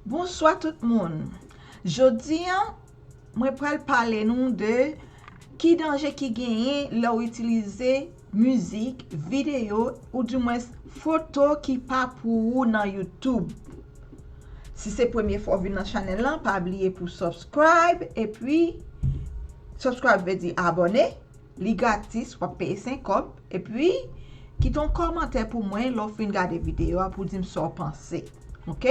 Bonswa tout moun, jodi an mwen pral pale nou de ki danje ki genyen lè ou itilize mizik, videyo ou di mwens foto ki pa pou ou nan youtube si se premye fwa ou vin nan chanèl lan pa bliye pou subscribe epi subscribe vle di abone li gratis wap peye 5 kòb epi kite yon kòmantè pou mwen lè ou fin gade videyo a pou dim sa ou panse ok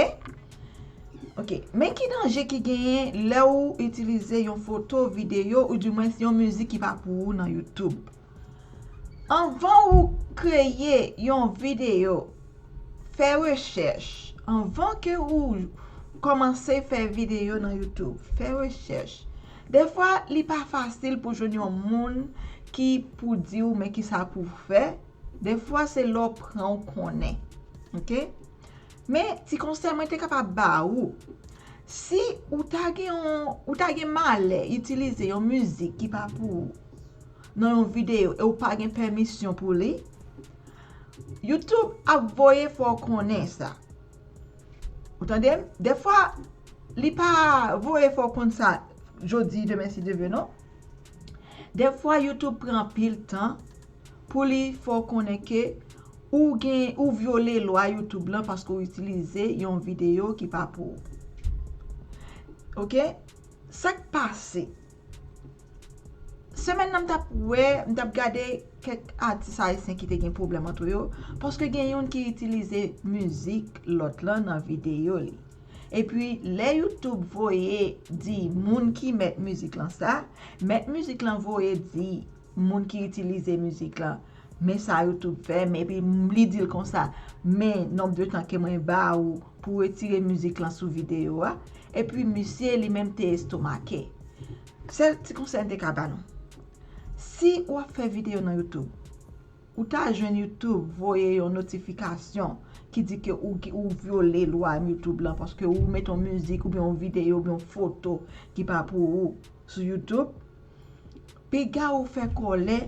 ok men ki danje ki genyen lè ou itilize yon foto, videyo ou di mwens yon mizik ki pa pou ou nan youtube. Anvan ou kreye yon videyo, fè rechèch. Anvan ke ou kòmanse fè videyo nan YouTube, fè rechèch. Defwa li pa fasil pou jwenn yon moun ki pou di ou men ki sa pou ou fè. Defwa se lè ou pran ou konnen. Ok? Men, ti konsèy mwen te kapab ba ou. Si ou ta gen yon, ou ta gen malè itilize yon mizik ki pa pou ou, nan yon video e ou pa gen pèmisyon pou li, YouTube ap voye fè w konnen sa. Ou tande m? Defwa, li pa voye fè w konn sa jodi, demen si Dye ve non. Defwa YouTube pran anpil tan pou li fè w konnen ke ou gen, ou vyole lwa YouTube lan paske ou itilize yon video ki pa pou ou. Ok? Sa k pase? Semèn nan m tap wè, m tap gade kèk atis ayisyen ki te gen pwoblèm antre yo, paske gen youn ki itilize mizik lòt lan nan videyo li. E pi lè Youtube voye di moun ki mèt mizik lan sa, mèt mizik lan voye di moun ki itilize mizik lan men sa youtube fè m epi li di l konsa men nonb de tan ke mwen ba ou pou retire mizik lan sou videyo a epi misye li menm te estomake sèl ti konsèy m te ka ba nou si ou ap fè videyo nan youtube ou ta jwenn youtube voye yon notifikasyon ki di ke ou vyole lwa youtube lan paske ou mete yon mizik oubyen yon videyo oubyen yon foto ki pa pou ou sou youtube Piga ou fè kòlè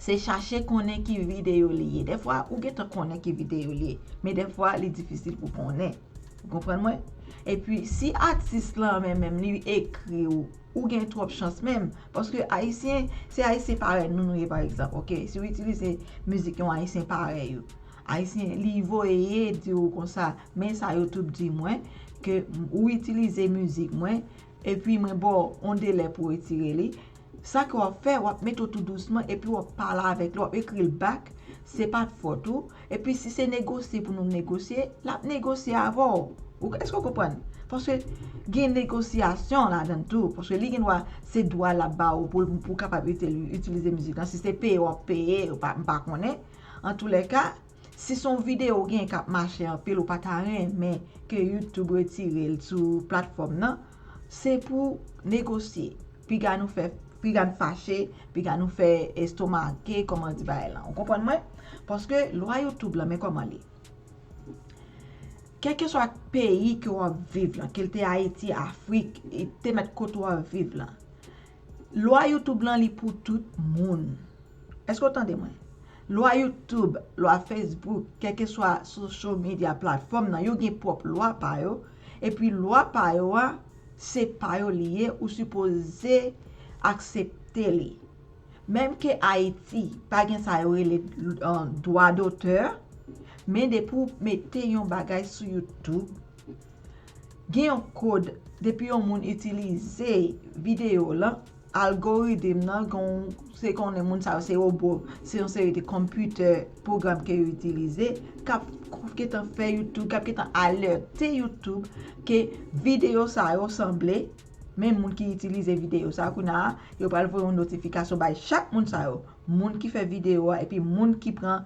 se chache konnen ki videyo li ye. Dèfwa ou gentan konnen ki videyo li ye. Men dèfwa li difisil pou konnen. Ou konprann mwen? E pi si atis lan men menm li ekri ou, ou gen twòp chans menm. Paske Ayisyen, se Ayisyen parèy nou nou ye pa egzanp ok. Si ou itilize mizik yon Ayisyen parèy ou. Ayisyen li voye di ou konsa men sa yo tout di mwen ke ou itilize mizik mwen Epi mwen ba w yon delè pou w retire li. Sa ke w ap fè, w ap mete l tou dousman epi w ap pale avèk li, w ap ekri l back, se pa t fòt ou. Epi si se negosye pou nou negosye, l ap negosye avè w. Èske w konprann? Paske gen negosyasyon ladan l tou. Paske li gen dwa, se dwa l ap ba ou pou ou kapab itilize mizik lan. Si se peye w ap peye, m pa konnen. Antoulèka. Si son video ou gen kap mache anpil ou pata renmen ke youtube retirel sou platfòm nan se pou negosye piga nou fè piga n fache piga nou fè estomake kòman di bagay lan ou konprann mwen paske lwa youtube lan men kòman li kèlkeswa peyi ke wap viv lan kel te ayiti afrik te mèt kote wap viv lan Lwa youtube lan li pou tout moun. Eske ou tande mwen? Lwa youtube, lwa facebook, kèlke swa social media platform nan yo gen pwòp lwa pa yo, epi lwa pa yo a, se pa yo li ye ou sipoze aksepte li. Menm ke Ayiti pa gen sa yo rele dwa dotè, men depi ou mete yon bagay sou youtube, Gen yon kod depi yon moun itilize video w lan algorithm nan gonw se konnen moun sa yo se robo se yon seri de konpitè pwogram ke yo itilize kap gentan fè youtube kap gentan alète youtube ke video sa yo sanble men moun ki itilize video sa yo kounye a yo pral voye yon notifikasyon bay chak moun sa yo moun ki fè video a epi moun ki pran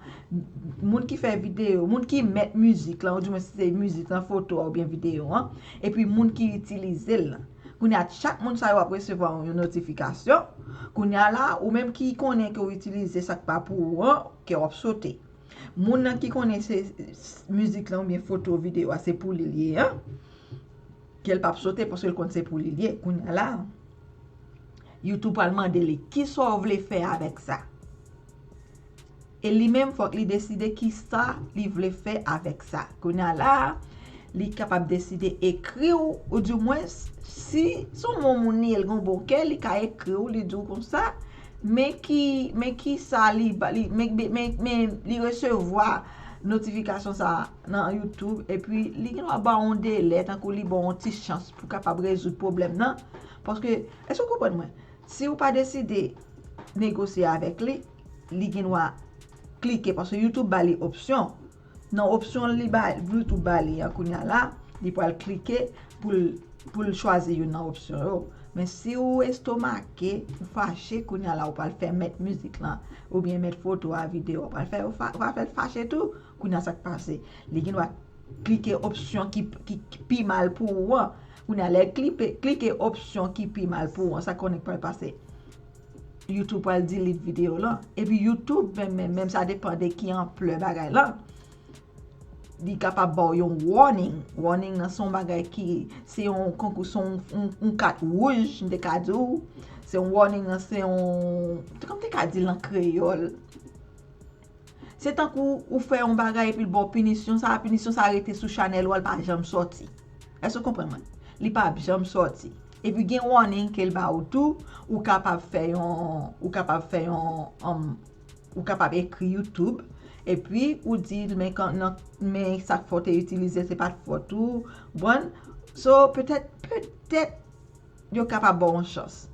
moun ki fè video moun ki mèt mizik lan ou di mwen si se mizik lan foto a ou byen video an epi moun ki itilize l kounye a chak moun sa yo ap resevwa yon notifikasyon kounye a la ou menm ki konnen ke ou itilize sak pa pou ou an kè w ap sote moun nan ki konnen se mizik lan ou byen foto video a se pou li li an kè l pap sote paske l konn se pou li li kounye a la YouTube pral mande li, kisa w vle fè avèk sa? E li menm fòk li deside kisa li vle fè avèk sa. Kounye a la, li kapab deside ekri w, ou di mwens, si se yon bon moun li ye, li gen yon bon kè, li ka ekri w, li di w konsa, men ki, men kisa li, men, men, men li resevwa notifikasyon sa a nan YouTube, epi li gen dwa ba w yon delè, tankou li ba w yon ti chans pou kapab rezoud pwoblèm nan. Paske, èske ou konprann mwen? Si ou pa deside negosye avèk li, li gen dwa klike, paske YouTube ba li opsyon. Nan opsyon li ba, YouTube ba li an kounya la, li pral klike pou l, pou l chwazi youn nan opsyon yo. Men si ou estomake, ou fache, kounya la ou pral fè mèt mizik lan, oubyen mèt foto a, videyo a, ou pral fè, ou pral fè l fache tou. Kounya sa k pase? Li gen dwa klike opsyon ki, ki pi mal pou ou an. Kounya lè klipe klike opsyon ki pi mal pou ou an sa konnen k pral pase YouTube pral delete video lan epi YouTube menm menm menm sa depan de ki anplè bagay lan li kapab baw yon warning warning nan son bagay ki se yon konkou son yon kat wouj m te ka di w se yon warning nan se yon kòm m te ka di l an kreyòl Se tankou ou fè yon bagay epi l ba w pinisyon sa a, pinisyon sa a rete sou chanèl ou a, l pa janm sòti. Èske w konprann mwen? Li pa p janm sòti. Epi gen warning ke l ba ou tou, ou kapab fè yon, ou kapab fè yon, ou kapab ekri YouTube epi ou di l men kan nan, men sa k fè w te itilize se pa t fòt ou, ou konprann? So petèt, petèt. yo kapab baw yon chans.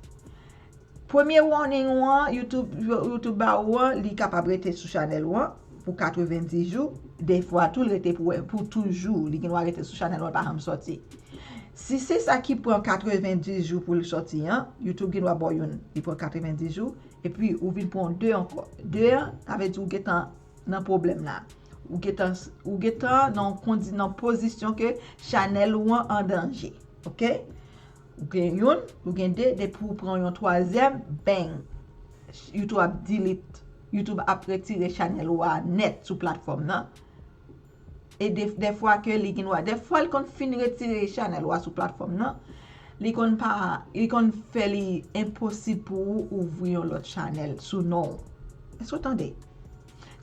Premye warning ou an youtube ba ou an li kapab rete sou chanèl ou an pou 90 jou, defwa tou li rete pou toujou, li gen dwa rete sou chanèl ou an li pa janm sòti. Si se sa ki pran 90 jou pou l sòti an, youtube gen dwa baw youn li pran 90 jou epi ou vin pran 2 ankò. 2 an sa vle di ou gentan nan pwoblèm la ou gentan ou gentan nan kondi nan pozisyon ke chanèl ou an andanje ok ou gen youn ou gen de depi ou pran yon twazyèm bang youtube ap delete youtube ap retire chanèl ou a nèt sou platfòm nan. E de de fwa ke li gen dwa, de fwa li konn fin retire chanèl ou a sou platfòm nan, li konn pa, li konn fè li enposib pou ou ouvri yon lòt chanèl sou non ou. Èske ou tande?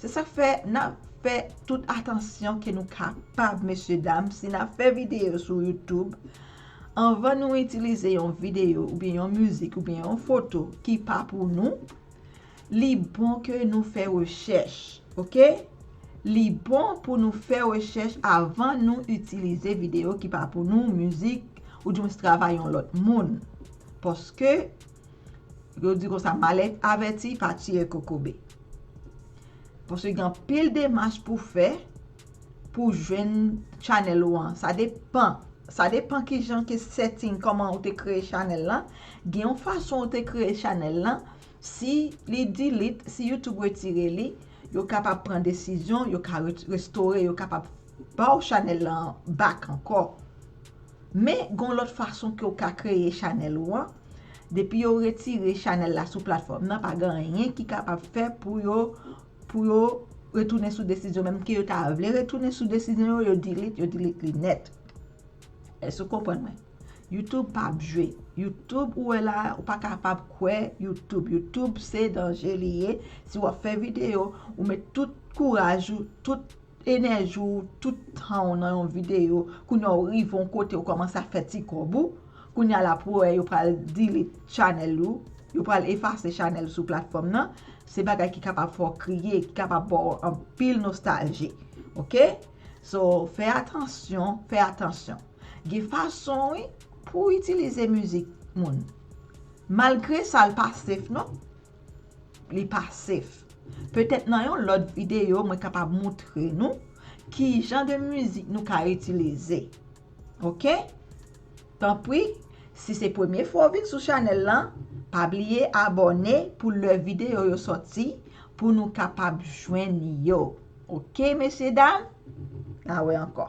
Se sak fè nan fè tout atansyon ke nou kapab mesye dam si nan fè videyo sou YouTube, anvan nou itilize yon videyo oubyen yon mizik oubyen yon foto ki pa pou nou, Li bon ke nou fè rechèch ok. Li bon pou nou fè rechèch avan nou itilize videyo ki pa pou nou, mizik, oudjwens travay yon lòt moun. Paske, yo di konsa malèt avèti pa tire kokobe. Paske gen anpil demach pou fè pou jwenn chanèl ou an. Sa depan, sa depan kijan ke setting, kòman ou te kreye chanèl lan. Gen yon fason ou te kreye chanèl lan, Si li delete, si YouTube retire li, yo kapab pran desizyon, yo ka restore, yo kapab ba w chanèl lan back ankò. Men, gon lòt fason ke w ka kreye chanèl ou an, depi yo retire chanèl la sou platfòm nan, pa gen anyen ki kapab fè pou yo, pou yo retounen sou desizyon, menm ke yo ta vle retounen sou desizyon yo, yo delete, yo delete li nèt. Èske w konprann mwen? YouTube pa ap jwe. YouTube ou wè la a, ou pa kapab kwè YouTube. YouTube se danje li ye. Si w ap fè videyo, ou met tout kouraj ou, tout enèji ou, tout tan ou nan yon videyo. Kounye a ou rive yon kote ou kòmanse ap fè ti kòb ou. Kounye a la pou wè yo pral delete chanèl ou. Yo pral efase chanèl ou sou platfòm nan. Se bagay ki kapab fè w kriye, ki kapab ba w anpil nostalji. Ok? So, fè atansyon, fè atansyon. Gen fason wi pou w itilize mizik moun. Malgre sa l pa sef non. Li pa sef. Petèt nan yon lòt videyo mwen kapab moutre nou ki jan de mizik nou ka itilize. Ok. Tanpri si se premye fwa w vin sou chanèl lan, pa bliye abòne pou lè videyo yo sòti pou nou kapab jwenn yo. Ok mesye dam na we anko.